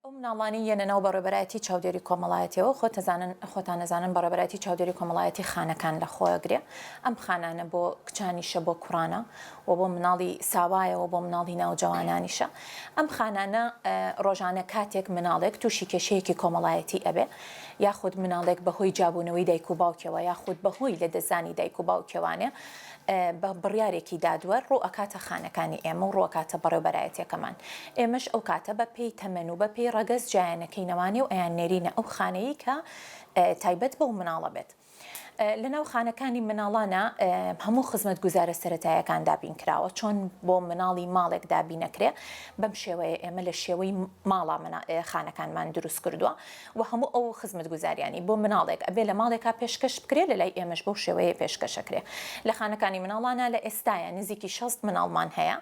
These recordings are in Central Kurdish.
ئەو مناڵانەی یەنە ناو بەڕێوبەرایەتی چاودێری کۆمەڵایەتیەوە خۆتەزانن خۆتان ئەزانن بەڕێوبەرایەتی چاودێری کۆمەڵایەتی خانەکان لە خۆ ئەگرێ ئەم خانانە بۆ کچانیشە بۆ کوڕانە و بۆ مناڵی ساوایە و بۆ مناڵی ناوجەوانانیشە ئەم خانانە ڕۆژانە کاتێک مناڵێک تووشی کێشەیەکی کۆمەڵایەتی ئەبێ یاخود مناڵێک بەهۆی جابوونەوەی دایک و باوکیەوە یاخود بەهۆی لەدەستدانی دایک و باوکیەوانێ بە بڕیارێکی دادوەر ڕوو ئەکاتە خانەکانی ئێمە و ڕووئەکاتە بەڕێوبەرایەتیەکەمان ئێمەش ئەو کاتە بە پێی تەمەن و بە پێی ڕەگەز جیایانەکەینەوانێ و ئەیان نێرینە ئەو خانەی کە تایبەت بەو مناڵە بێت لە ناو خانەکانی مناڵانە هەموو خزمەت گوزارە سەتایەکان دابین کراوە چۆن بۆ مناڵی ماڵێک دابینەکرێ بەم شێوەیە ئێمە لە شێوەی ماڵا خانەکانمان دروست کردووە وە هەموو ئەو خزمەتگوزاریانەی بۆ مناڵێک ئەبێ لە ماڵێکا پێشکەش بکرێ لە لای ئێمەش بەو شێوەیە پێشکەش ئەکرێ لە خانەکانی مناڵانا لە ئێستایا نزیکی شەست مناڵمان هەیە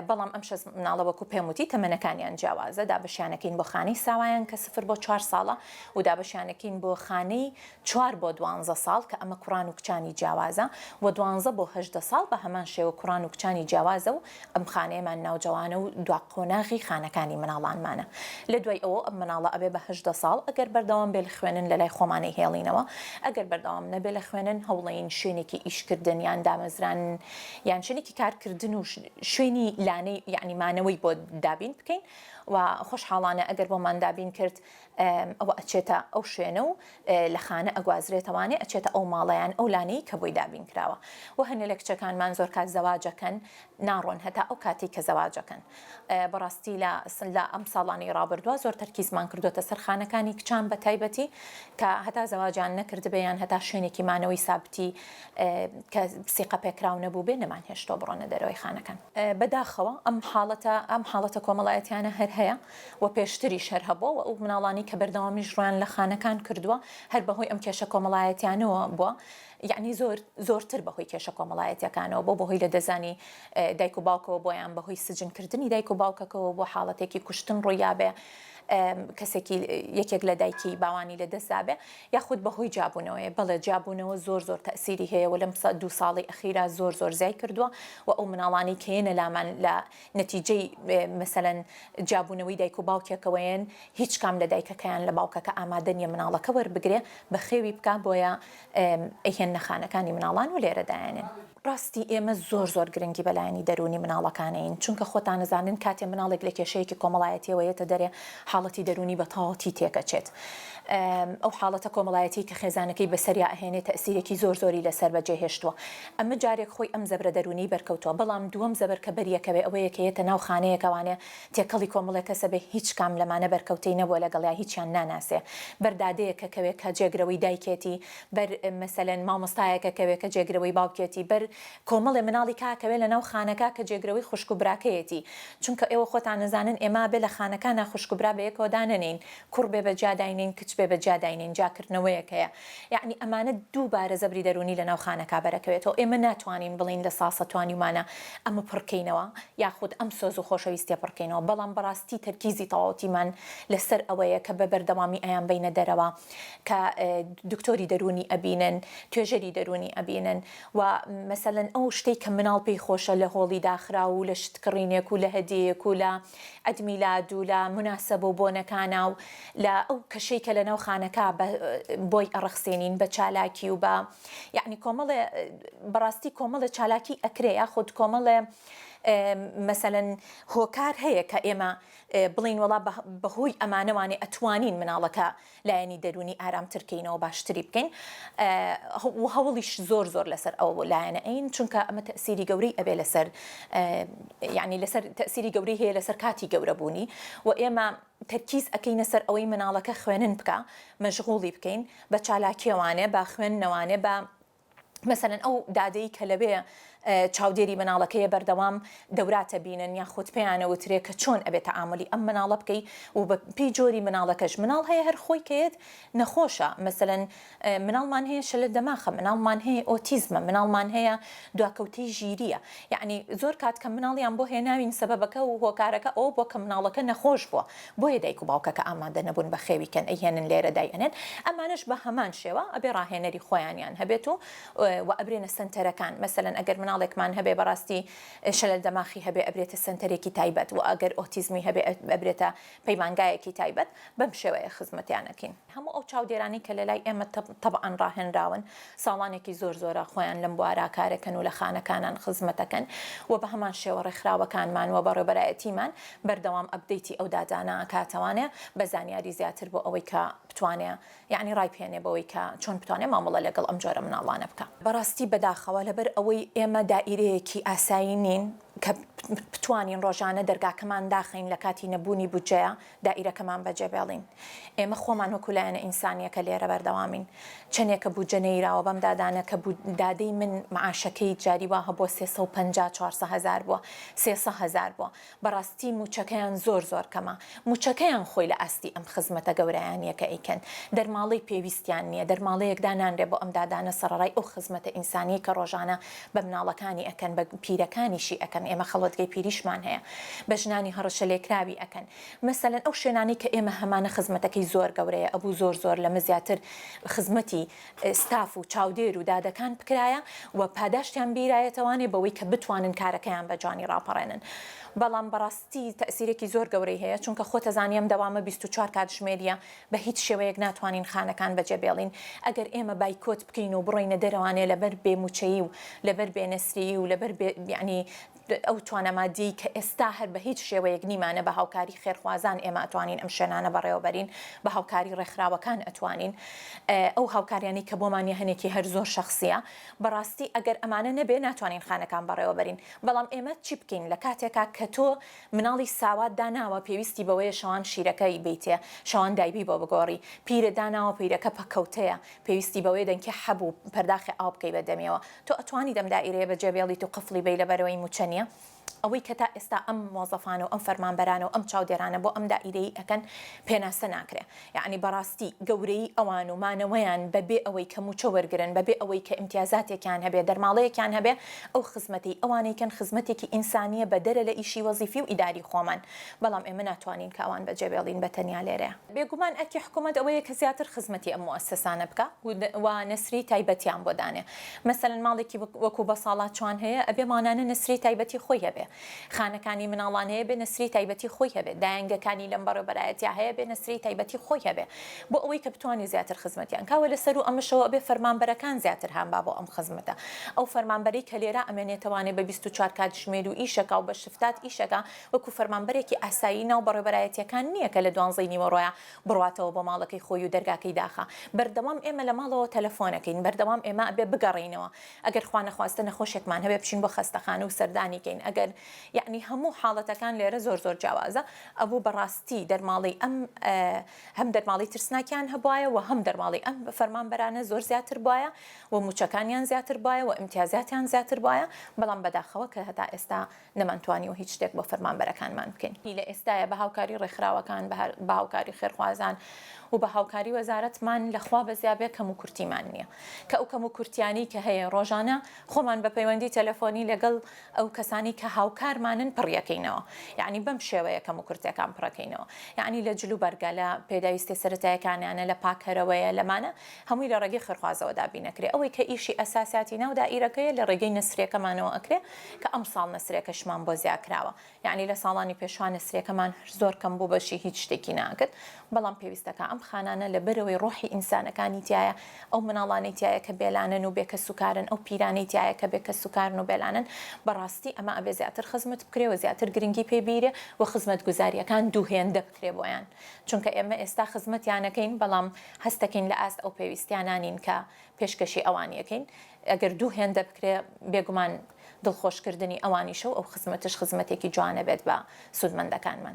بەڵام ئەم شەست مناڵە وەکو پێم وتی تەمەنەکانیان جیاوازە دابەشیانەکەین بۆ خانەی ساوایان کە سفر بۆ چوار ساڵە و دابەشیانەکەین بۆ خانەی چوار بۆ دوانزە ساڵ کە ئەمە کوڕان و کچانی جیاوازە و دوانزە بۆ هەژدە ساڵ بە هەمان شێوە کوڕان و کچانی جیاوازە و ئەم خانەیەمان ناوجەوانە و دوا قۆناغی خانەکانی مناڵانمانە لە دوای ئەوەو ئەم مناڵە ئەبێ بە هەژدە ساڵ ئەگەر بەردەوام بێ لە خوێنن لە لای خۆمان ئەیهێڵینەوە ئەگەر بەردەوام نەبێ لە خوێنن هەوڵەیین شوێنێکی ئیش کردن یان دامەزران یان شوێنێکی کار کردن و شوێنی لانەی یانی مانەوەی بۆ دابین بکەین و خۆشحاڵانە ئەگەر بۆمان دابین کرد ئەوە ئەچێتە ئەو شوێنە و لە خانە ئەگوازرێتەوانێ ئەچێتە ئەو ماڵە یان ئەو لانەی کە بۆی دابین کراوە و هەنێ لە کچەکانمان زۆر کات زەواج ئەکەن ناڕۆن هەتا ئەو کاتەی کە زەواج ئەکەن بەڕاستی لە سن لە ئەم ساڵانی ڕابردووە زۆر تەرکیزمان کردووەتە سەر خانەکانی کچان بە تایبەتی کە هەتا زەواجیان نەکردبێ یان هەتا شوێنێکی مانەوەی سابتی کە سیقە پێکراو نەبوو بێ نەمان هێشتەوە بڕۆنە دەرەوەی خانەکان بەداخەوە ئەم حاڵەتە ئەم حاڵەتە کۆمەڵایەتیانە هەر هەیە و پێشتریش هەر هەبووە و ئەو مناڵانەی کە بەردەوامیش ڕوویان لە خانەکان کردووە هەر بەهۆی ئەم کێشە کۆمەڵایەتیانەوە بووە یعنی زۆر زۆرتر بەهۆی کێشە کۆمەڵایەتیەکانەوە بۆ بەهۆی لە دەزانی دایک و باوکەوە بۆیان بەهۆی سجنکردنی دایک و باوکەکەەوە بۆ حاڵەتێکی کوشتن ڕوویابێ کەسێکی یەکێک لە دایکی باوانی لە دەستدابێ یاخود بەهۆی جابوونەوەی بەڵێ جابوونەوە زۆر زۆر تەسیری هەیە و لەم دو ساڵی ئەخیرا زۆر زۆر زیای کردووە و ئەو مناڵانی کەێنە لامان لە نەتیجەی مەسەلەن جیابوونەوەی دایک و باوکێکەوەیەن هیچ کام لە دایکەکەیان لە باوکەکە ئامادە نیە مناڵەکە وەربگرێ بەخێوی بکا بۆیە ئەیهێننە خانەکانی مناڵان و لێرە دایەنێن. ڕاستی ئێمە زۆر زۆر گرنگی بە لایەنی دەروونی مناڵەکانەین چونکە خۆتان ئەزانن کاتێ مناڵێک لە کێشەیەکی کۆمەڵایەتیەوە یەتە دەرێ حاڵەتی دەروونی بە تەواوەتی تێکەچێت ئەو حاڵەتە کۆمەڵایەتی کە خێزانەکەی بەسەریا ئەهێنێ تەئسیرێکی زۆر زۆری لەسەر بەجێ هێشتووە ئەمە جارێک خۆی ئەم زەبرە دەروونیەی بەرکەوتووە، بەڵام دووەم زەبر کە بەریەکەوێ ئەوەیە کە یەتە ناو خانەیەک ئەوانێ تێکەڵی کۆمەڵێ کەسە بێ هیچ کام لەمانە بەرکەوتەی نەبووە لەگەڵیا هیچیان ناناسێ بەر دادەیەک کە کەوێ کە جێگرەوەی دایکێتی بەر مەسەلەن مامۆستایەکە کەوێ کە جێگرەوەی باوکێتی بەر کۆمەڵێ مناڵی کاکەوێ لەناو خانەکا کە جێگرەوەی خوشک و براکەیەتی چونکە ئێوە خۆتان ئەزانن ئێمە ئەبێ لە خانەکانا خوشک و برا بەیەکەوە دانەنێین کوڕ بێ بەجیا داینێین کچ بێ بەجیا داینێین جاکردنەوەیەک هەیە یەعنی ئەمانە دووبارە زەبری دەروونی لەناو خانەکا بەرەکەوێتەوە، ئێمە ناتوانین بڵێین لە ساسە توانیومانە ئەمە پڕکەینەوە یاخود ئەم سۆز و خۆشەویستیە پڕکەینەوە بەڵام بەڕاستی تەرکیزی تەواوەتیمان لەسەر ئەوەیە کە بەبەردەوامی ئەیانبەینە دەرەوە کە دکتۆری دەروونی ئەبینن توێژەری دەروونی ئەبینن و مەسەلەن ئەو شتەی کە مناڵ پێی خۆشە لە هۆڵی داخراو و لە شتکڕینێک و لە هەدیەیەک و لە عەد میلاد و لە موناسەبە و بۆنەکانا و لە ئەو کەشەی کە لەناو خانەکا بە بۆی ئەڕەخسێنین بە چالاکی و بە یەعنی کۆمەڵێ بە ڕاستی کۆمەڵێ چالاکی ئەکرێ یا خود کۆمەڵێ مەسەلەن هۆکار هەیە کە ئێمە بڵین وڵا بە هۆی ئەمانەوانێ ئەتوانین مناڵەکە لایەنی دەروونی ئارامتر کەینەوە باشتری بکەین و هەوڵیش زۆر زۆر لەسەر ئەو بۆ لایەنە ئەین چونکە ئەمە تەسیری گەورەی ئەبێ لەسەر یعنی لەسەر تەسیری گەورەی هەیە لەسەر کاتی گەورەبوونی و ئێمە تەرکیز ئەەکەینە سەر ئەوەی مناڵەکە خوێنن بکە مەژغوڵی بکەین بە چالاکیەوانێ با خوێندنەوانێ بە مەسەلەن ئەو دادەی کە لەوێ چاودێری مناڵەکەیە بەردەوام دەوراتە بینن یاخود پێیانە وترێ کە چۆن ئەبێ تەعامولی ئەم مناڵە بکەی و بە پێی جۆری مناڵەکەش مناڵ هەیە هەر خۆی کەێت نەخۆشە مەسەلەن مناڵمان هەیە شەلە دەماخە مناڵمان هەیە ئۆتیزمە مناڵمان هەیە دواکەوتەی ژیریە یعنی زۆر کات کە مناڵیان بۆ هێناوین سەبەبەکە و هۆکارەکە ئەو بۆ کە مناڵەکە نەخۆش بووە بۆیە دایک و باوکەکە ئامادە نەبوون بە خێوی کەن ئەیهێنن لێرە دای ئەنێن ئەمانەش بە هەمان شێوە ئەبێ ڕاهێنەری خۆیانیان هەبێت و وە ئەبرێنە سەنتەرەکان مەسەلەن ئەگەر مناڵێکمان هەبێ بەڕاستی شەلەل دەماخی هەبێ ئەبرێتە سەنتەرێکی تایبەت وە ئەگەر ئۆتیزمی هەبێ ئەبرێتە پەیمانگایەکی تایبەت بەم شێوەیە خزمەتیان ئەکەین. هەموو ئەو چاودێرانەی کە لە لای ئێمە تەبعەن ڕاهێنراون، ساڵانێکی زۆر زۆرە خۆیان لەم بوارە کارەکەن و لە خانەکانان خزمەتەکەن و بە هەمان شێوە ڕێکخراوەکانمان و بەڕێوبەرایەتیمان بەردەوام ئەپدەیتی ئەو داتانە ئەکا تاوانێ بە زانیاری زیاتر بۆ ئەوەی کە بتوانێ یەعنی ڕایبهێنێ بەوەی کە چۆن بتوانێ مامەڵە لەگەڵ ئەم جۆرە مناڵانە بکا. بەڕاستی بەداخەوە لەبەر ئەوەی ئێمە دائیرەیەکی ئاسایی نین کە بتوانین ڕۆژانە دەرگاکەمان داخەین لە کاتی نەبوونی بودجەیە، دائیرەکەمان بەجێبێڵین. ئێمە خۆمان وەکو لایەنە ئینسانیەکە لێرە بەردەوامین. چەنێکە بودجە نەیراوە بەم دادانە کە بو دادەی من معاشەکەی جاری وا هەبوە سێ سەو پەنجا چوارسە هەزار بوە سێ سە هەزار بوە. بەڕاستی موچەکەیان زۆر زۆر کەمە. موچەکەیان خۆی لە ئاستی ئەم خزمەتە گەورایانیە کە ئەیکەن. دەرماڵەی پێویستیان نیە. دەرماڵەیەک دانانرێ بۆ ئەم دادانە سەڕەڕای ئەو خزمەتە ئینسانیەی کە ڕۆژانە بە مناڵەکانی ئەکەن بە پیرەکانیشی ئەکەن ئێمە خەڵوەتگەی پیریشمان هەیە بە ژنانی هەڕەشە لێکراوی ئەکەن مەسەلەن ئەو شوێنانەی کە ئێمە هەمانە خزمەتەکەی زۆر گەورەیە ئەبوو زۆر زۆر لەمە زیاتر خزمەتی ستاف و چاودێر و دادەکان بکرایە و پاداشتیان بیرایەتەوانێ بەوەی کە بتوانن کارەکەیان بە جوانی ڕاپەڕێنن بەڵام بەڕاستی تەئسیرێکی زۆر گەورەی هەیە چونکە خۆتەزانی ئەم دەوامە بیست و چوار کاتژمێریە بە هیچ شێوەیەک ناتوانین خانەکان بەجێبێڵین، ئەگەر ئێمە بایکۆت بکەین و بڕۆینە دەرەوانێ لەبەر بێ موچەیی و لەبەر بێ نەسریی و لەبەر بێ یەعنی ئەو توانا مادیەی کە ئێستا هەر بە هیچ شێوەیەک نیمانە بە هاوکاری خێرخوازان ئێمە ئەتوانین ئەم شوێنانە بەڕێوە بەرین بە هاوکاری ڕێکخراوەکان ئەتوانین ئەو هاوکاریانەی کە بۆمان یە هەنێکی هەر زۆر شەخسیە بەڕاستی ئەگەر ئەمانە نەبێ ناتوانین خانەکان بەڕێوە بەرین بەڵام ئێمە چی بکەین لە کاتێکا کە تۆ مناڵی ساوات داناوە پێویستی بەوەیە شەوان شیرەکە ی بەیتێ شەوان دایبی بۆ بگۆڕی پیرە داناوە پیرەکە پەکەوتەیە پێویستی بەوەیە دەنکی حەب و پەرداخی ئاو بکەی بە دەمیەوە تۆ ئەتوانیت ئەم دائیرەیە بە جێ بێڵیت و قفڵی بەی لەبەرئەوەی موچە نیە ئەوەی کە تا ئێستا ئەم مۆزەفانە و ئەم فەرمانبەرانە و ئەم چاودێرانە بۆ ئەم دائیرەیی ئەکەن پێناسە ناکرێ یەعنی بەڕاستی گەورەیی ئەوان و مانەوەیان بە بێ ئەوەی کە مووچە وەرگرن، بە بێ ئەوەی کە ئیمتیازاتێکیان هەبێ، دەرماڵەیەکیان هەبێ، ئەو خزمەتەی ئەوانەی کەن خزمەتێکی ئینسانییە بە دەرە لە ئیشی وەزیفی و ئیداری خۆمان، بەڵام ئێمە ناتوانین کە ئەوان بەجێ بێڵین بە تەنیا لێرەیا. بێگومان ئەرکی حکوومەت ئەوەیە کە زیاتر خزمەتی ئەم موئەسەسانە بکا و و نەسری تایبەتیان بۆ دانێ. مەسەلەن ماڵێکی وەکوو بەساڵاچوان هەیە ئەبێ مانانە نەسری تایبەتی خۆی هەبێ. خانەکانی مناڵان هەیە بێ نەسری تایبەتی خۆی هەبێ، دایەنگەکانی لەم بەڕێوبەرایەتیا هەیە بێ نەسری تایبەتی خۆی هەبێ بۆ ئەوەی کە بتوانێ زیاتر خزمەتیان کا وە لە سەروو ئەمەشەوە ئەبێ فەرمانبەرەکان زیاتر هان با بۆ ئەم خزمەتە ئەو فەرمانبەرەی کە لێرە ئەمێنێتەوانێ بە بیست و چوار کاتژمێر و ئیش ئەکا و بە شفتات ئیش ئەکا وەکوو فەرمانبەرێکی ئاسایی ناو بەڕێوبەرایەتیەکان نیە کە لە دوانزەی نیوەڕۆیا بڕواتەوە بۆ ماڵەکەی خۆی و دەرگاکەی داخا بەردەوام ئێمە لە ماڵەوە تەلەفۆن ئەکەین بەردەوام ئێمە ئەبێ بگەڕێینەوە ئەگەر خوا نەخواستە نەخۆشێکمان هەبێ بچین بۆ خەستەخانە و سەردانی کەین ئەگەر یەعنی هەموو حاڵەتەکان لێرە زۆر زۆر جیاوازە ئەبوو بەڕاستی دەرماڵەی ئەم هەم دەرماڵەی ترسناکیان هەبوایە و هەم دەرماڵەی ئەم فەرمانبەرانە زۆر زیاتر بوایە و مووچەکانیان زیاتر بوایە و ئیمتیازاتیان زیاتر بوایە بەڵام بەداخەوە کە هەتا ئێستا نەمانتوانیوە هیچ شتێک بۆ فەرمانبەرەکانمان بکەین. لە ئێستایە بە هاوکاری ڕێکخراوەکان، بە هاوکاری خێرخوازان و بە هاوکاری وەزارەتمان لە خوا بەزیابێ کەموکورتیمان نییە. کە ئەو کەموکورتییانەی کە هەیە ڕۆژانە خۆمان بە پەیوەندی تەلەفۆنی لەگەڵ ئەو کەسانەی کە هاوکارمانن پڕیەکەینەوە. یانی بەم شێوەیە کەموکورتییەکان پڕەکەینەوە. یانی لە جلوبەرگە، لە پێداویستییە سەرەتاییەکانیانە، لە پاککەرەوەیە، لەمانە هەمووی لە ڕێگەی خێرخوازەوە دابین ئەکرێ ئەوەی کە ئیشی ئەساسیاتی ناو دائیرەکەیە لە ڕێگەی نەسریەکەمانەوە ئەکرێ کە ئەمساڵ نەسریەکەشمان بۆ زیا کراوە یەعنی لە ساڵانی پێشوە نەسریەکەمان زۆر کەم بوو بەشی هیچ شتێکی ناکرد بەڵام پێویستەکە ئەم خانانە لە بەرەوەی ڕۆحی ئینسانەکانی تیایە ئەو مناڵانەی تیایە کە بێلانەن و بێ کەس و کارن ئەو پیرانەی تیایە کە بێ کەس و کارن و بێلانەن بەڕاستی ئەمە ئەبێ زیاتر خزمت بکرێ و زیاتر گرنگی پێ بیرێ و خزمەتگوزاریەکان دوو هێندە بکرێ بۆیان چونکە ئێمە ئێستا خزمەتیان ئەکەین بەڵام هەست دەکەین لە ئاست ئەو پێویستیانە نین کە پێشکەشی ئەوانی ئەکەین ئەگەر دوو هێندە بکرێ بێگومان دڵخۆش کردنی ئەوانیشە و ئەو خزمەتەش خزمەتێکی جوانە بێت بە سوودمەندەکانمان.